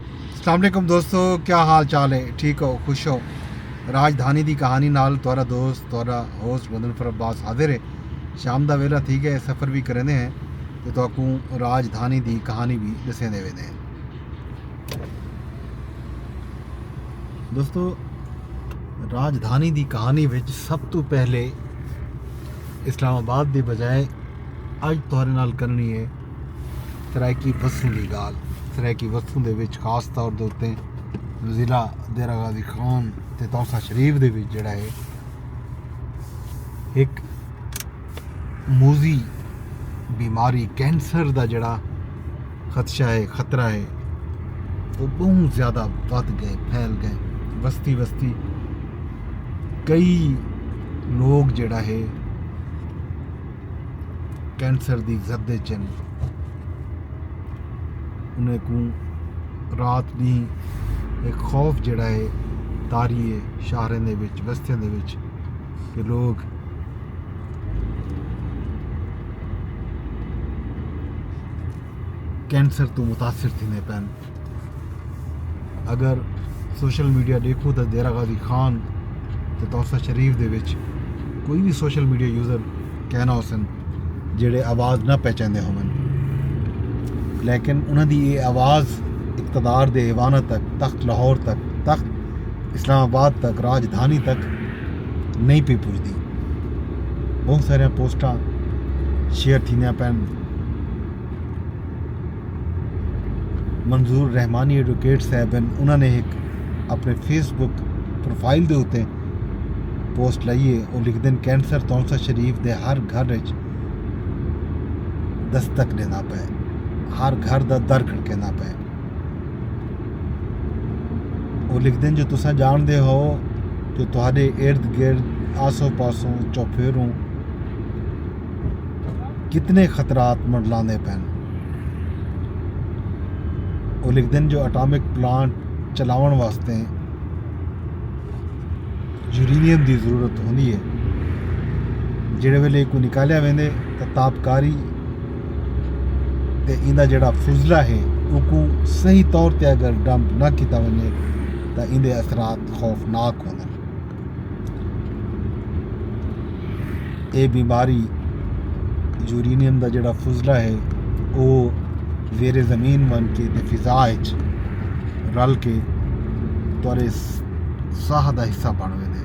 السلام علیکم دوستو کیا حال چال ہے ٹھیک ہو خوش ہو راج دھانی دی کہانی نال تورا دوست تورا ہوسٹ مدن فر عباس حاضر ہے شام دا ویلا تھی گئے سفر بھی کریندے ہیں تو تو کو راج دھانی دی کہانی بھی دسیں دے ویندے ہیں دوستو راج دھانی دی کہانی وچ سب تو پہلے اسلام آباد دی بجائے اج تورے نال کرنی ہے سرائیکی بسوں دی گالھ سرائیکی بسوں دے وچ خاص طور دے اتے ضلع دیرہ غازی خان تے تونسہ شریف دے وچ جڑا ہے ایک موزی بیماری کینسر دا جڑا خدشہ ہے خطرہ ہے وہ بہت زیادہ بد گئے پھیل گئے بستی بستی کئی لوگ جڑا ہے کینسر دی زد اچ ہن انہیں کوں رات ݙینہہ ایک خوف جیڑھا ہے طاری ہے شہراں دے وچ بستیاں دے وچ کہ لوگ کینسر توں متاثر تھیندے پئے ہن اگر سوشل میڈیا ڈیکھوں تاں دیرہ غازی خان تے توسہ شریف دے وچ کوئی بھی سوشل میڈیا یوزر کہنا ہو سن جیڑے آواز نہ پہچاندے ہوں لیکن انہاں دی یہ آواز اقتدار دے ایوانہ تک تخت لاہور تک تخت اسلام آباد تک راجدھانی تک نہیں پی پجدی بہت سارے پوسٹاں شیئر تھیندیاں پین منظور رحمانی ایڈوکیٹ صاحب ہیں انہوں نے ایک اپنے فیس بک پروفائل دے اتے پوسٹ لائیے اور لکھ دین کینسر تونسا شریف دے ہر گھر اچ دستک دینا پے ہر گھر دا در کھڑکینا پے اور لکھ دین جو تسا جان دے ہو جو تہاڈے ارد گرد آسو پاسوں چوپھیروں کتنے خطرات منڈلاندے پن او لکھدے جو اٹامک پلانٹ چلاون واسطے یورینیم دی ضرورت ہوندی ہے جڑے ویلے کو نکالیا ویندے تے تابکاری تے ایندا جڑا فضلہ ہے او کو صحیح طور تے اگر ڈمپ نہ کیتا ونجے تے ایندے اثرات خوفناک ہوندن اے بیماری یورینیم دا جیڑھا فضلہ ہے او زیر زمین ون کے تے فضا اچ رل کے تورے ساہ دا حصہ بن ویندے۔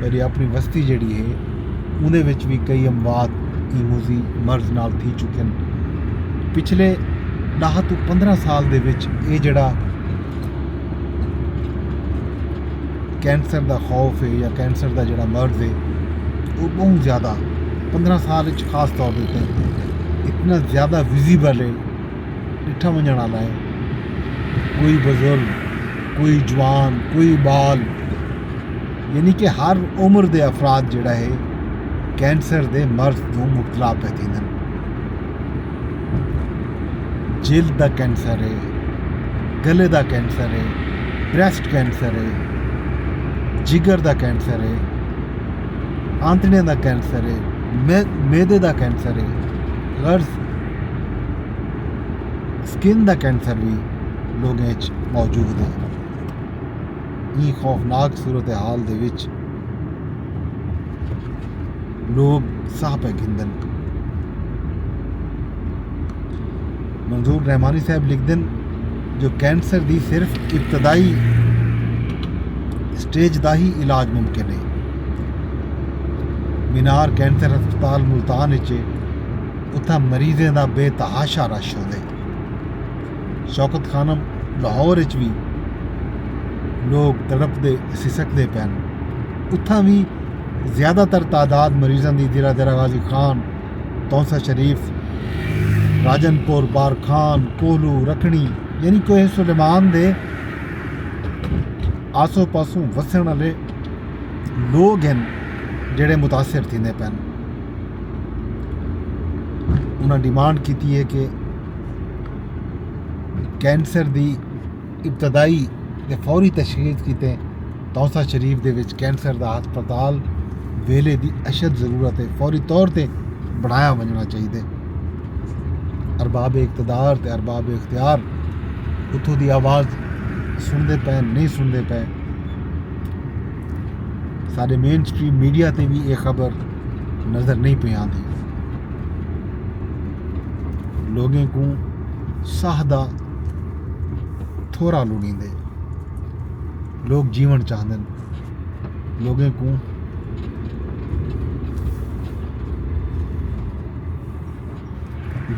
میری اپنی وستی جیڑی ہے انہیں وچ بھی کئی اموات ایموزی مرض نال تھی چکے ہیں پچھلے دہ تو پندرہ سال دے وچ اے جڑا کینسر دا خوف ہے یا کینسر دا جڑا مرض ہے وہ بہت زیادہ پندرہ سال وچ خاص طور دیتے ہیں اتنا زیادہ ویزیبل ہے ݙٹھا ونڄݨ آلا ہے۔ کوئی بزرگ، کوئی جوان، کوئی ٻال یعنی کہ ہر عمر دے افراد جیڑھا ہے کینسر دے مرض توں مبتلا پئے تھیندن۔ جلد دا کینسر ہے، گلے دا کینسر ہے، بریسٹ کینسر ہے، جگر دا کینسر ہے، آنتڑیاں دا کینسر ہے، معدے دا کینسر ہے، غرض سکن دا کینسر وی لوگیں اچ موجود ہے ایں خوفناک صورتحال دے وچ لوگ ساہ پہ گھندن منظور رحمانی صاحب لکھ دن جو کینسر دی صرف ابتدائی سٹیج دا ہی علاج ممکن ہے مینار کینسر ہسپتال ملتان اچ اتھاں مریضیں دا بے تحاشا رش ہوندے۔ شوکت خانم لاہور اچ وی لوگ تڑپ دے سسک دے پن اتھاں وی زیادہ تر تعداد مریضاں دی دیرا دیرا غازی خان تونسہ شریف راجن پور بار خان کوہلو رکھنی یعنی کوہ سلیمان دے آسو پاسوں وسن والے لوگ ہن جڑے متاثر تھیندے پن۔ انہاں ڈیمانڈ کیتی ہے کہ کینسر دی ابتدائی تے فوری تشخیص کیتے توسا شریف دے وچ کینسر دا ہسپتال ویلے دی اشد ضرورت ہے فوری طور تے بڑھایا ونجنا چاہیے ارباب اقتدار تے ارباب اختیار اتھوں دی آواز سنتے پے نہیں سنتے پے سارے مین سٹریم میڈیا تے بھی یہ خبر نظر نئیں پئے آندی۔ لوگیں کوں ساہ دا تھورا لڑیندے۔ لوگ جیون چاہندن۔ لوگیں کوں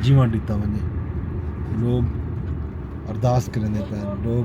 جیون ڈتا ونجے۔ لوگ ارداس کریندے پئے۔ لوگ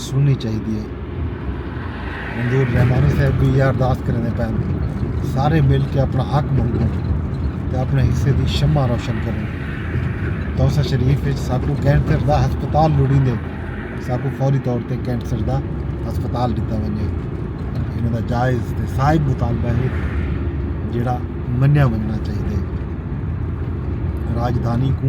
سننی چاہیدی ہے منظور رحمانی صاحب بھی یہ ارداس کرنے پہ سارے مل کے اپنا حق منگو تو اپنے حصے کی شمع روشن کریں دوسا شریف ساکو کینسر دا ہسپتال لڑی دے ساکو فوری طور پہ کینسر دا ہسپتال دیتا ونجے انہوں دا جائز تے صاحب مطالبہ ہے جڑا منیا مننا چاہیے راجدھانی کو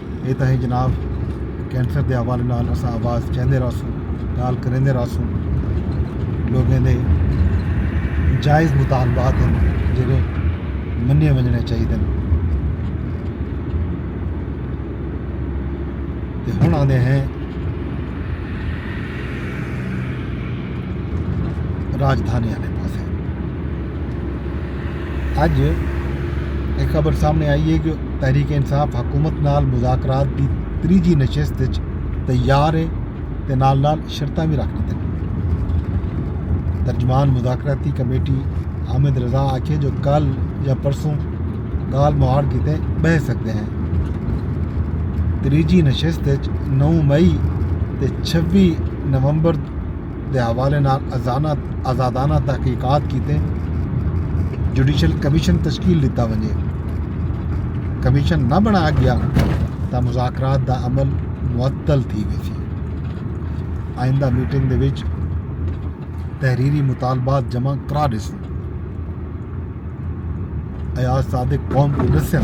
اے تاں ہے جناب کینسر دے حوالے نال اساں آواز چیندے رہسوں گال کریندے رہسوں لوگیں دے جائز مطالبات ہیں جڑے منیے ونجنے چاہیے دن تے ہن آندے ہیں راجدھانی والے پاسے اج اے خبر سامنے آئی اے کہ تحریک انصاف حکومت نال مذاکرات دی تریجھی نشست اچ تیار اے تے نال نال شرطاں وی رکھ ڈتیاں۔ ترجمان مذاکراتی کمیٹی حامد رضا آکھیے جو کل یا پرسوں گالھ مہاڑ کیتے بہہ سگدے ہیں۔ تریجھی نشست اچ نو مئی تے چھوی نومبر دے حوالے نال آزادانہ تحقیقات کیتے جوڈیشل کمیشن تشکیل ڈتا ونجے۔ کمیشن نہ بنایا گیا تاں مذاکرات دا عمل معطل تھی ویسی۔ آئندہ میٹنگ دے وچ تحریری مطالبات جمع کرا ڈیسوں۔ ایاز صادق قوم کوں ڈسن۔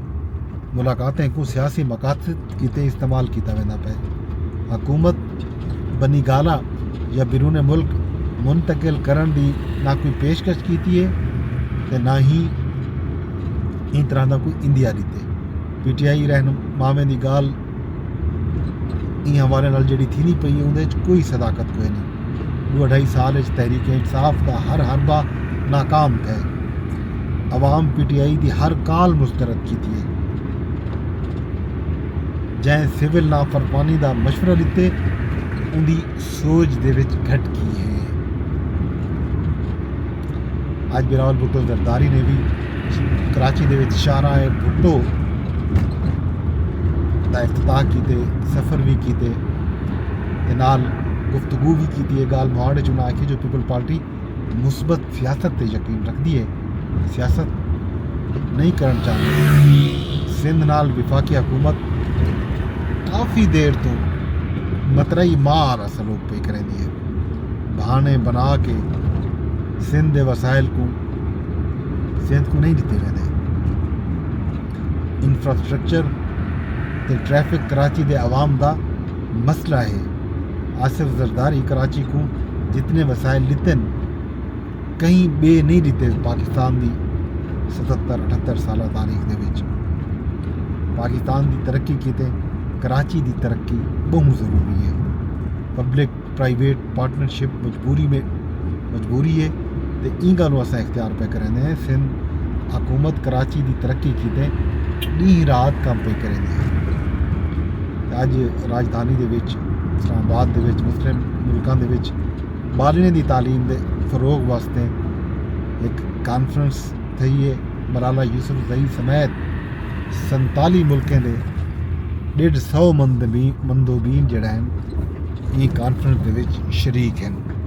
ملاقاتیں کوں سیاسی مقاصد کیتے استعمال کیتا ویندا پئے، حکومت بنی گالہ یا بیرون ملک منتقل کرݨ دی نہ کوئی پیشکش کیتی اے تے نہ ہی ایں طرح دا کوئی عندیہ ݙتے، پی ٹی آئی رہنماویں دی ڳالھ ایں حوالے نال جیڑھی تھیندی پئی ہے اودے وچ کوئی صداقت کوئی نہیں ڈو اڈھائی سال وچ تحریک انصاف دا ہر حربہ ناکام تھے عوام پی ٹی آئی دی ہر کال مسترد کیتی ہے جائیں سول نافرمانی دا مشورہ لیتے ان دی سوج دے وچ گھٹ گی ہے۔ اج بلاول بھٹو زرداری نے بھی کراچی دے وچ شارہ بھٹو دا افتتاح کیتے سفر بھی کیتے نال گفتگو بھی کیتی ہے گال مہاڑ چنا کے جو پیپل پارٹی مثبت سیاست تے یقین رکھدی اے، سیاست نئیں کرݨ چاہندی، سندھ نال وفاقی حکومت کافی دیر توں مترئی ماء آلا سلوک پئی کریندی اے، بہانے بنا کے سندھ دے وسائل کوں سندھ کوں نئیں ݙتے ویندے، انفراسٹرکچر تے ٹریفک کراچی دے عوام دا مسئلہ اے۔ آصف زرداری کراچی کوں جتنے وسائل ڈتن کہیں بے نہیں ڈتے پاکستان دی ستر اٹھتر سالہ تاریخ دے وچ پاکستان دی ترقی کیتے کراچی دی ترقی بہت ضروری ہے پبلک پرائیویٹ پارٹنرشپ مجبوری میں مجبوری ہے تے ایں گالوں اساں اختیار پئے کریندے ہیں سندھ حکومت کراچی دی ترقی کیتے ڈینہہ رات کم پئے کریندی ہے تے اج راجدھانی دے وچ اسلام آباد دے وچ مسلم ملکاں دے وچ بالنے دی تعلیم دے فروغ واسطے ایک کانفرنس تھئی ہے ملالہ یوسف زئی سمیت سنتالی ملکیں دے ڈیڑھ سو مندوبین جڑا ہیں ایں کانفرنس دے وچ شریک ہیں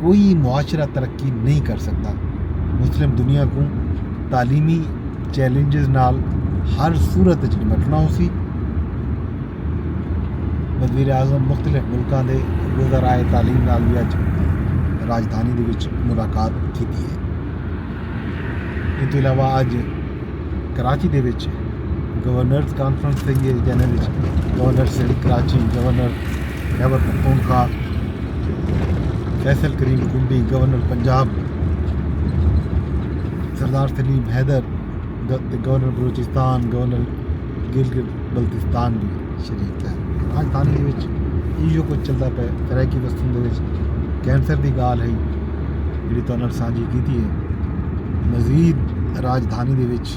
کوئی معاشرہ ترقی نہیں کر سکدا۔ مسلم دنیا کوں تعلیمی چیلنجز نال ہر صورت وچ نمٹنا ہوسی۔ وزیر اعظم مختلف ملکاں دے وزرائے تعلیم نال وی اج راجدھانی دے وچ ملاقات کیتی ہے۔ ایں توں علاوہ اج کراچی دے وچ گورنرز کانفرنس تھئی ہے جنہاں وچ governor Sindh Karachi governor Khyber Pakhtunkhwa Faisal Karim Kundi governor Punjab Sardar Saleem Haider governor Balochistan governor Gilgit Baltistan بھی شریک ہے راجدھانی دے وچ ایو کچھ چلدا پے سرائیکی وسطی دے وچ کینسر دی گال ہے جڑی تہاڈے نال سانجھی کیتی ہے مزید راجدھانی دے وچ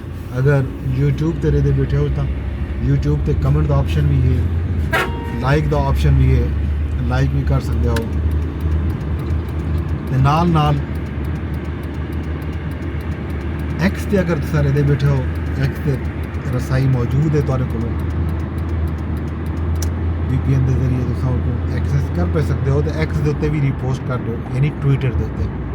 اگر یوٹیوب تے رہدے بیٹھے ہو تاں یوٹیوب تے کمنٹ دا آپشن وی ہے لائک دا آپشن وی ہے لائک وی کر سکتے ہو تے نال نال ایکس تے اگر تسا رہدے بیٹھے ہو ایکس تے رسائی موجود ہے تارے کو وی پی این دے ذریعے تسا ایکسس کر پہ سکتے ہو تے ایکس دے اتنے بھی ریپوسٹ کر دو یعنی ٹویٹر دے اتنے